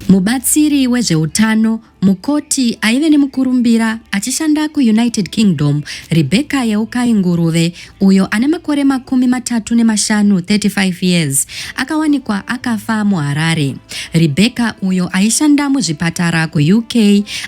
Mubatsiri wezveutano, mukoti aive nemukurumbira achishanda kuUnited Kingdom, Rebecca Yeukai Nguruve, uyo ane makore makumi matatu nemashanu, 35 years, akawanikwa akafa muHarare. Rebecca, uyo aishanda muzvipatara kuUK,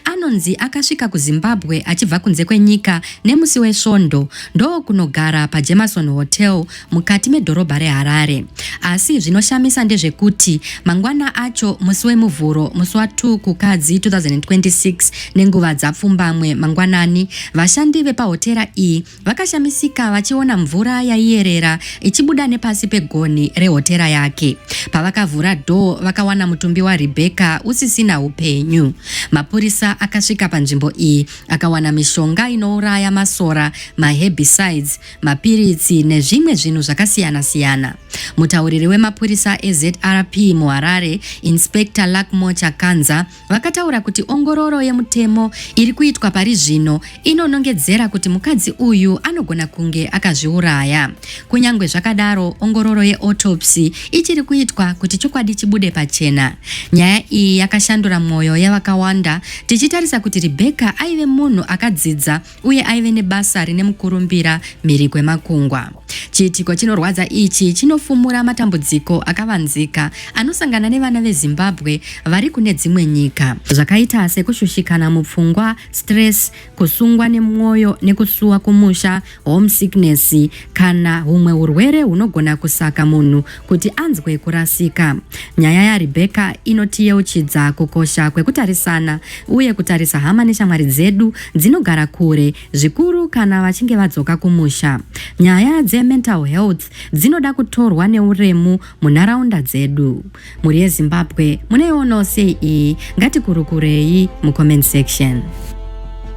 anonzi akasvika kuZimbabwe achibva kunze kwenyika nemusi weSvondo ndokunogara paJemerson Hotel mukati medhorobha reHarare. Asi zvinoshamisa ndezvekuti mangwana acho musi weMuvhuro musi wa 2 Kukadzi 2026 nenguva dzapfumbamwe mangwanani, vashandi vepahotera iyi vakashamisika vachiona mvura yaiyerera ichibuda nepasi pegonhi rehotera yake. Pavakavhura dhoo vakawana mutumbi waRebecca usisina upenyu. Mapurisa akasvika panzvimbo iyi akawana mishonga inouraya masora, maherbicides, mapiritsi nezvimwe zvinhu zvakasiyana-siyana. Mutauriri wemapurisa eZRP muHarare, Inspector Luckmore Chakanza, vakataura kuti ongororo yemutemo iri kuitwa pari zvino inonongedzera kuti mukadzi uyu anogona kunge akazviuraya. Kunyange zvakadaro, ongororo yeautopsy ichiri kuitwa kuti chokwadi chibude pachena. Nyaya iyi yakashandura mwoyo yavakawanda, tichitarisa kuti Rebecca aive munhu akadzidza uye aive nebasa rine mukurumbira mhiri kwemakungwa. Chiitiko chinorwadza ichi chinofumura matambudziko akavanzika anosangana nevana veZimbabwe vari kune dzimwe nyika zvakaita sekushushikana mupfungwa, stress, kusungwa nemwoyo nekusuwa kumusha, homesickness kana humwe hurwere hunogona kusaka munhu kuti anzwe kurasika. Nyaya yaRebheka inotiyeuchidza kukosha kwekutarisana uye kutarisa hama neshamwari dzedu dzinogara kure, zvikuru kana vachinge vadzoka kumusha. Nyaya dzemental health dzinoda kutorwa neuremu munharaunda dzedu. Mhuri yeZimbabwe munoionawo sei iyi? Ngatikurukurei mucomment section.